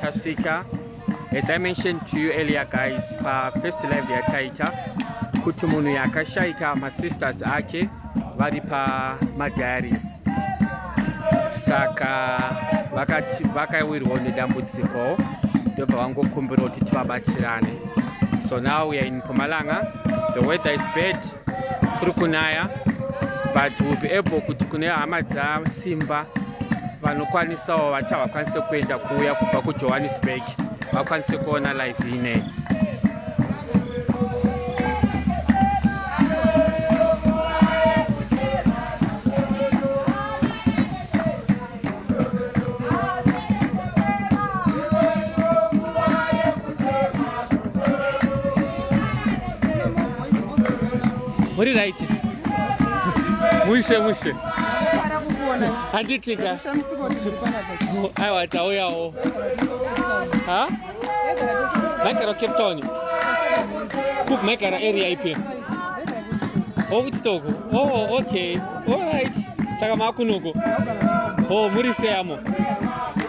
tasvika as i mentioned to you earlier guys pafirst live yataita kuti munhu yakashaika masisters ake vari pamadiaries saka vakawirwawo nedambudziko ndobva vangokumbira kuti tivabatsirane so now weare in pomalanga the weather is bad kuri kunaya but will be able kuti kune hama dzasimba vanokwanisawo vati havakwanise kuenda kuuya kubva kujohannesburg vakwanise kuona live inei muri right mushe mushe handitika aiwa tauyawo maigara cape town kup maigara area ipi owitstock oh, o oh, okay allright saka maakunuko o oh, muri seyamo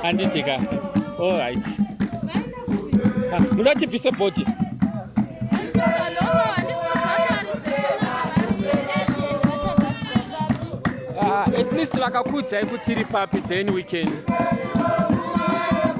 handiti ka allright ah, muda tibvise body ah, at least vakakuudzai kuti iri papi then we can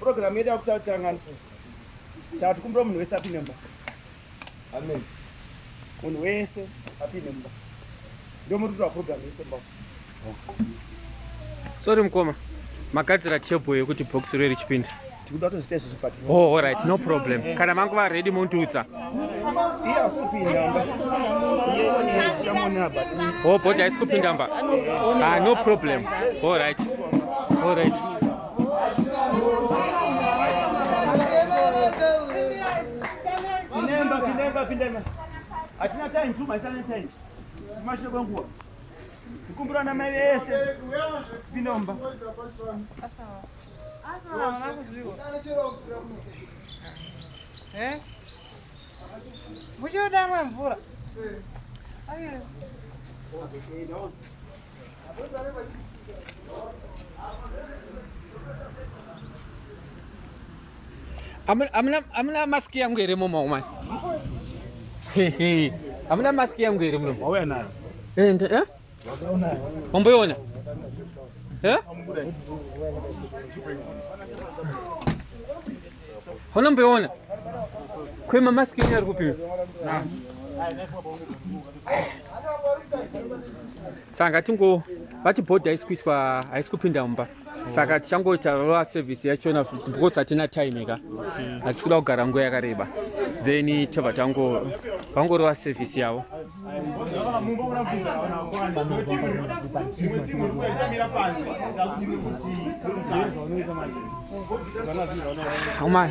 Program yedu yakutatanga saka tikumbira munhu wese apinde mba amen munhu wese apinde mba ndomurutura program yese mba sorry mukoma magadzira table yekuti box rwe richipinda tikuda kutozviita izvozvo but oh all right no problem eh. kana vangu va ready mondiudza iye asi kupinda mba iye tichamuona but oh body haisi kupinda mba ah no problem all right all right Pindemba, pindemba, pindemba. Hatina time tu, maisana time. Tumashe kwa nguwa. Kukumbura na mai vese. Pindemba. Asawa. Eh? Mucho dama mvura. Ayo. Amna amna mask yangu iri mumo umai. Amna mask yangu iri mumo. Wawe nayo. Eh, eh? wamboiona eh? hona mboiona kwema maski enyu ari kupiwa saka tingo vati bhodhi haisi kuitwa haisi kupinda mumba saka tichangoita rova service yachona because hatina time ka hatisi kuda kugara nguva yakareba then tobva tango vangorova service yavo amai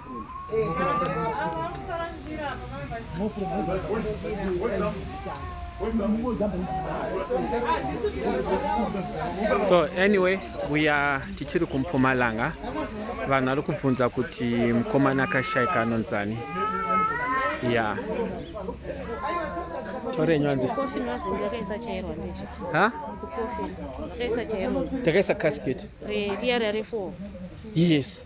so anyway uya tichiri kumpumalanga vanhu vari kubvunza kuti mukomana akashaika anonzani ya yeah. torenywanzi ha takaisa caspet yes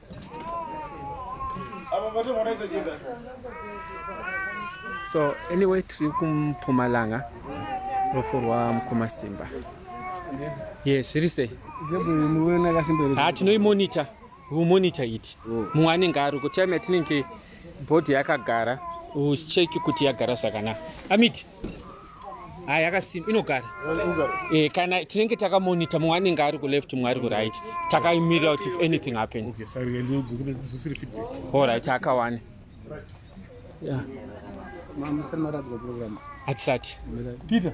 so anyway tiri kumpumalanga rufu rwamukoma simba ye zviri sei ha tinoimonita umonita iti oh. mumwe anenge ari kutime yatinenge bhodhi yakagara ucheki kuti yagara zvakanaka amiti hayi yakasimba inogara e, kana tinenge takamonita mumwe anenge ari kuleft mumwe ari kuright takaimirira kuti if anything happen allright akawane hatisati peter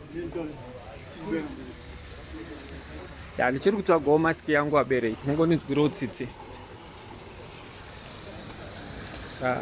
ya ndichiri kutsvagawo masiki yangu abereki tinongoninzwirawo tsitsi ah.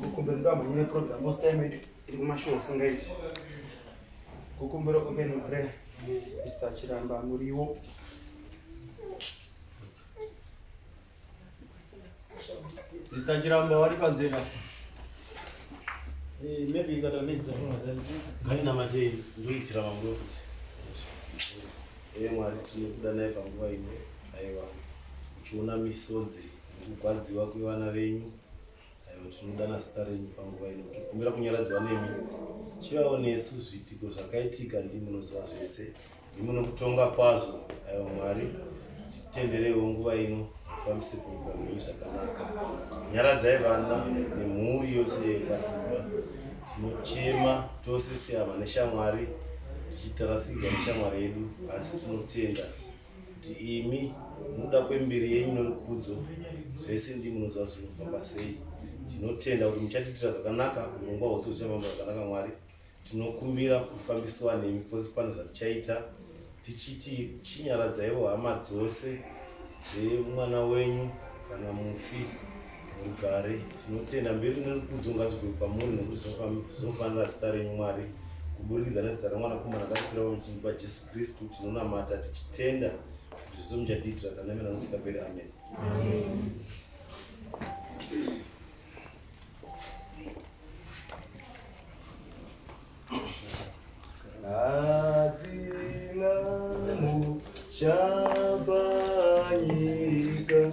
kukumbira ndamhanya yeprogram most time yedu iri kumashow singaiti kukumbira open prayer mr chiramba muriwo mr chiramba vari panzira eh, maybe ikata nezizaaina matei ndoitsira vamwe kuti e eh, mwari tinokuda naye panguva ino aiwa uchiona misodzi nekugwadziwa kwevana venyu Aiwa tinodana zita renyu panguva ino kuti kumbira kunyaradzwa nemi. Chivawo nesu zviitiko zvakaitika ndimi munoziva zvese. Ndimi munokutonga kwazvo. Aiwa Mwari titendereiwo nguva ino mufambise kuuga mwenyu zvakanaka. Nyaradzai vana nemhuri yose yekwasimba. Tinochema tose sehama neshamwari tichitarasikirwa neshamwari yedu asi tinotenda kuti imi munoda kwemberi yenyu norukudzo zvese ndi munoziva kuti zvinofamba sei tinotenda kuti muchatiitira zvakanaka urongwa hwose huchafamba zvakanaka mwari tinokumbira kufambisiwa nemi pose pane zvatichaita tichiti chinyaradzaiwo hama dzose dzemwana wenyu kana mufi mugare tinotenda mberi norukudzo ngazvigwe kwamuri nokuti zvinofanira zita renyu mwari kuburikidza nezita remwanakomana akafira pamuchinji pajesu Kristu tinonamata tichitenda kuti zvese muchatiitira tanamira nosvika peri. Amen. Amen. Atina mushaba nyika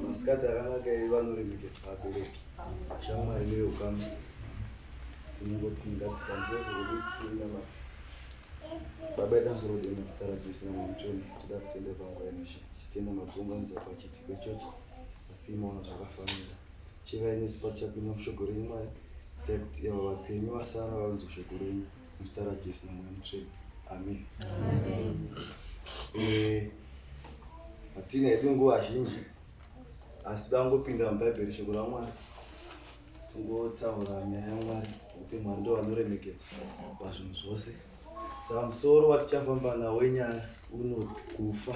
Masikati akanaka iyi vanoremekedzwa vabereki. Shamwari mune ukama. Tinongoti ngatikwanise zvekuti tinamati. Baba ita musoro dei muzita raJesu naMwanamuchoni tida kutenda pangu yanosha. Titenda makuunganidza pachitiko ichocho asi imaona zvakafanira. Chivai nesu pachapinda mushoko renyu Mwari. Itai kuti avo vapenyu vasara vanzwe shoko renyu. muzita rajesu nemweya mutsvene amen eh, hatina hedu nguva zhinji asi toda kungopinda mubhaibheri shoko ramwari tingotaura nyaya yamwari kuti mwari ndo vanoremekedzwa pazvinhu zvose saka musoro watichafamba nawo inyaya unoti kufa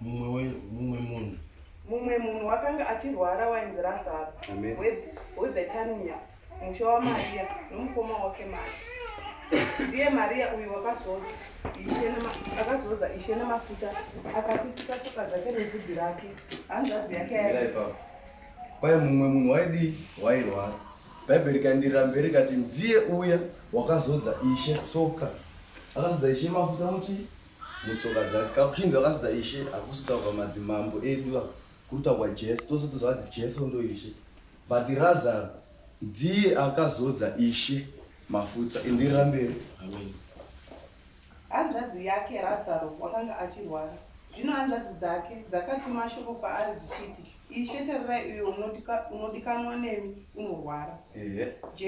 mumwe mumwe munhu mumwe munhu wakanga achirwara wainzi razaro webhetaniya musha wamariya nomukoma wake mari ndiye mariya uyu wakazoza akazoza ishe nemafuta akapisisa soka dzake nebvudzi rake hanzvadzi yake kwaye mumwe munhu waidii wairwara bhaibheri kandirira mberi kati ndiye uya wakazodza ishe soka akazodza ishe mafuta muchii mutsoka dzake kakuchinzi vakasidza ishe hakusi kutaurwa madzimambo edu iva kuri taurwa jesu tose tozovati jesu ndo ishe but razaro ndiye akazodza ishe mafuta indirira mberi amen hanzvadzi yake razaro wakanga achirwara zvino hanzvadzi dzake dzakatuma shoko kwaari dzichiti ishe tarirai uyo unodikanwa nemi unorwara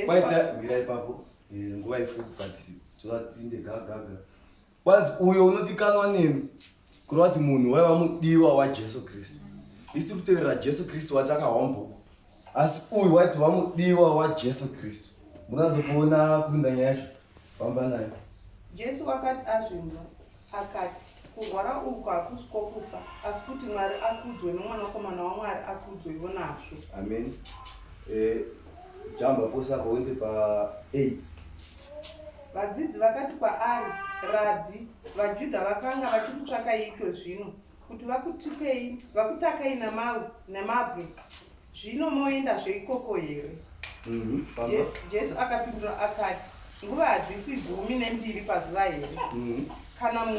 kwaita mira ipapo eh, nguva ifupi but tovatinde gagaga Kwanzi uyo unodikanwa nemi kureva kuti munhu waiva mudiwa wajesu kristu isi tiri kuteverera jesu kristu wati akahwambuko asi uyu waiti vamudiwa wajesu kristu munoanzo kuona kuinda nyaya yacho famba nayo jesu wakati azvimba akati kurwara uku hakusi kwokufa asi kuti mwari akudzwe nomwanakomana wamwari akudzwe ivo nazvo amen eh, jamba posa pawendi pa8 Vadzidzi vakati kwaari, Rabhi, vaJudha vakanga vachikutsvakaiiko zvino? Kuti vakutukei, vakutakai namawe, namabwe? Zvino moenda zveikoko here? Mhm, Je- Jesu akapindura akati, Nguva hadzisi gumi nembiri pazuva here? Mhm. Kana munhu